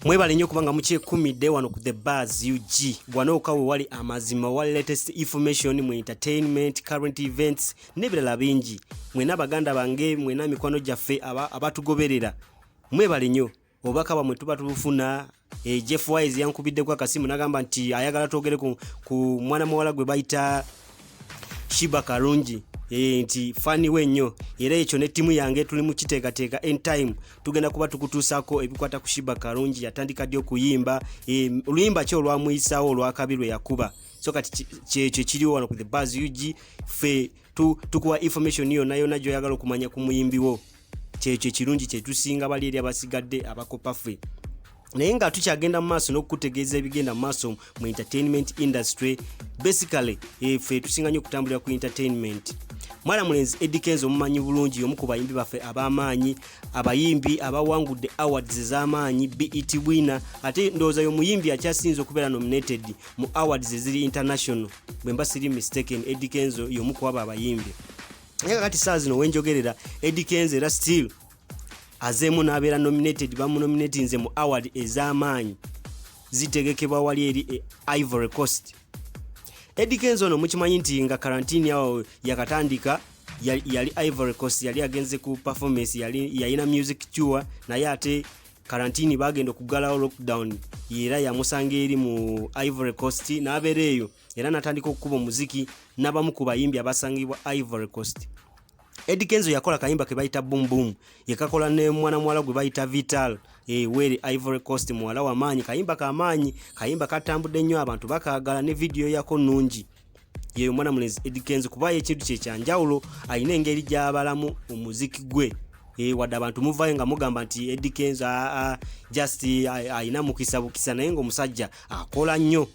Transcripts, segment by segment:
mwebale nnyo kubanga mukyekumidde wano ku the bars ug wanooka we wali amazima wa latest information mu entertainment current events n'ebirala bingi mwena baganda bange mwena mikwano gyaffe abatugoberera mwebale nnyo obubaka bwamwe tuba tubufuna e, jeff wise yankubiddeko akasimu nagamba nti ayagala twogere ku, ku mwana muwala gwe bayita shiba kalungi eh, nti fani we nnyo era ekyo ne ttiimu yange tuli mu kiteekateeka entime tugenda kuba tukutuusaako ebikwata ku shiba kalungi yatandika ddi okuyimba eh, oluyimba ki olwamuyisaawo olwakabi lwe yakuba so kati kyekyo kiriwo wano ku the bas ug fe tukuwa information yonna yonna gyoyagala okumanya ku muyimbiwo kyekyo ekirungi kyetusinga bali eri abasigadde abakopa ffe naye nga tukyagenda mu maaso n'okukutegeeza ebigenda mu maaso mu entertainment industry basically eh, ffe tusinga nyo okutambulira ku entertainment mwana mulenzi Eddie Kenzo omumanyi bulungi omu ku bayimbi baffe ab'amaanyi abayimbi abawangudde awards ez'amaanyi BET winner ate ndowooza y'omuyimbi akyasinze okubeera nominated mu awards eziri international bwe mba siri mistaken Eddie Kenzo y'omu ku abo abayimbi naye kakati saa zino wenjogerera Eddy Kenzo era still azeemu n'abeera nominated bamunominatinze mu award ez'amaanyi zitegekebwa wali eri e Ivory Coast Eddy Kenzo ono mukimanyi nti nga karantini awo yakatandika yali Ivory Coast yali agenze ku performance yali yayina music tour naye ate karantini bagenda okuggalawo lockdown era yamusanga eri mu Ivory Coast n'abeera eyo era n'atandika okukuba omuziki n'abamu ku bayimbi abasangibwa Ivory Coast. Eddy Kenzo yakola kayimba ke bayita Boom Boom, yekakola ne mwana muwala gwe bayita Vital e Weri Ivory Coast, muwala wa maanyi. Kayimba ka maanyi, kayimba katambudde nnyo, abantu bakaagala ne vidiyo yako nnungi. Ye omwana mulenzi Eddy Kenzo kuba ekintu kye kya njawulo, alina engeri gy'abalamu omuziki gwe. E, wadde abantu muvayo nga mugamba nti Eddy Kenzo just alina mukisa bukisa, naye ng'omusajja akola nnyo.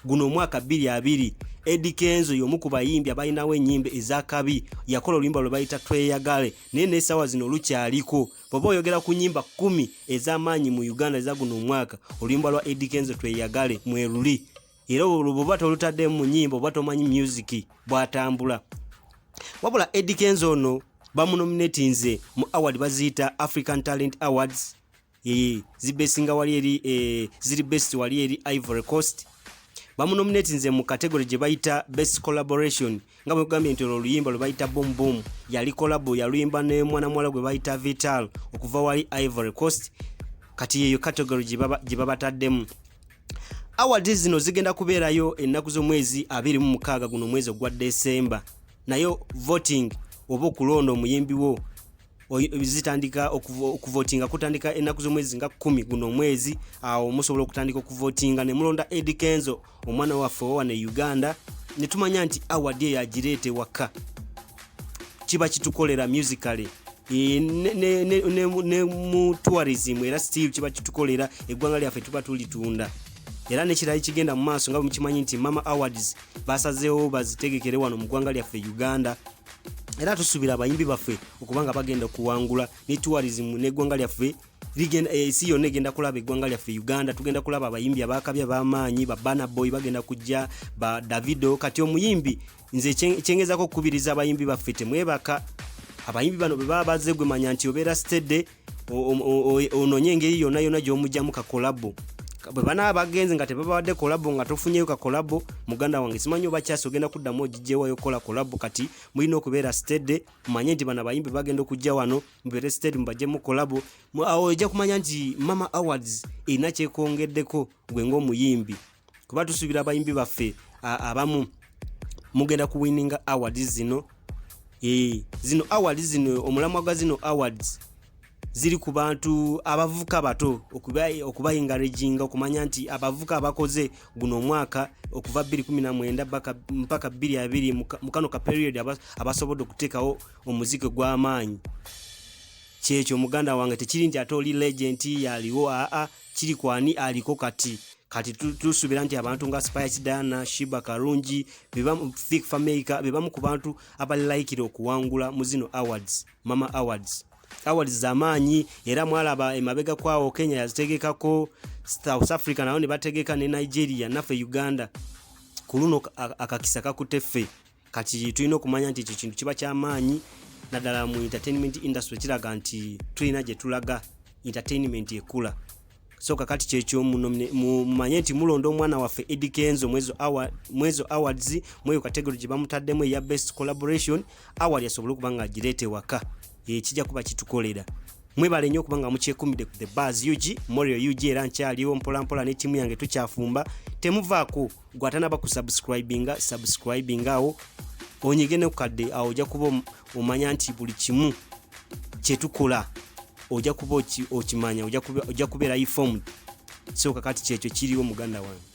guno omwaka 22 Eddie Kenzo y'omu ku bayimbi abalinawo ennyimba ez'akabi yakola oluyimba lwe bayita tweyagale naye n'essaawa zino olukyaliko bw'oba oyogera ku nnyimba kkumi ez'amaanyi mu uganda eza guno omwaka oluyimba lwa Eddie Kenzo tweyagale mwe luli era olwo bw'oba tolutaddemu mu nnyimba oba tomanyi myuziki bw'atambula wabula Eddie Kenzo ono bamunominatinze mu award baziyita african talent awards ee zibesinga wali eri e, ziri best wali eri ivory coast bamunominate nze mu category gye bayita best collaboration nga bwekugambye nti olwo oluyimba lwe bayita boom boom yali collabo yaluyimba ne mwana muwala gwe bayita vital okuva wali ivory coast kati yeyo category gye babataddemu awards zino zigenda kubeerayo ennaku z'omwezi abiri mu mukaaga guno omwezi ogwa desemba naye voting oba okulonda omuyimbi wo zitandika okuvotinga kutandika ennaku z'omwezi nga kumi guno omwezi awo musobola okutandika okuvotinga ne mulonda edi kenzo omwana waffe owana e uganda ne tumanya nti awadi eyo agireeta ewaka kiba kitukolera musically e, ne mu tourism era still kiba kitukolera eggwanga lyaffe tuba tulitunda era nekirala ekigenda mu maaso nga bwemukimanyi nti mama awards basazeewo bazitegekere wano mu ggwanga lyaffe uganda era tusuubira abayimbi baffe okuba nga bagenda okuwangula ne tourism n'eggwanga lyaffe eh, ensi yonna egenda kulaba eggwanga lyaffe uganda tugenda kulaba abayimbi abakabya bamaanyi babana boy bagenda kujja ba davido kati omuyimbi nze kyengezako okukubiriza abayimbi baffe temwebaka abayimbi bano bwebaba bazze gwe manya nti obeera stede ononye engeri yona yona gyomugyamu kakolabo bwebanaba bagenze nga tebabawadde kolabo nga tofunyeyo kakolabo muganda wange simanyi oba kyasi ogenda kuddamu ogijjewayo okukola kolabo kati mulina okubeera stede mumanye nti bana bayimbi bagenda okujja wano mubeere stede mubajemu kolabo awo ojja kumanya nti mama awards erina kyekongeddeko gwe ng'omuyimbi kuba tusuubira abayimbi baffe abamu mugenda kuwininga awards zino ee zino awards zino omulamwa gwa zino awards ziri ku bantu abavuka bato okubayinga rejinga okumanya nti abavuka abakoze guno omwaka okuva 219 mpaka 22 mu kano ka period abasobodde okuteekawo omuziki gw'amaanyi kyekyo muganda wange tekiri nti ate oli legenti yaliwo aa kiri ku ani aliko kati kati tusubira nti abantu nga spice dana shiba karungi fik fameica bebamu ku bantu abalaikira okuwangula mu zino awards mama awards awards zamaanyi era mwalaba emabega kwawo kenya yazitegekako south africa nayo ne bategeka ne nigeria naffe uganda ku luno akakisa kakutte ffe kati tulina okumanya nti ekyo kintu kiba kyamaanyi naddala mu entertainment industry kiraga nti tulina gye tulaga entertainment ekula so kakati kyekyo mumanye nti mulonda omwana waffe edi kenzo mwezo awards mweyo kategoro gye bamutaddemu eya best collaboration award asobole okuba nga agireeta ewaka ekijja kuba kitukolera mwebale nnyo okubanga mukyekumidde ku the bars ug morio ug era nkyaliwo mpolampola ne tiimu yange tukyafumba temuvaako gwe atanaba ku subscribinga subscribing awo onyige ne kukadde awo ojja kuba omanya nti buli kimu kyetukola ojja kuba okimanya ojja kubeera informed soka kati kyekyo kiriwo muganda wange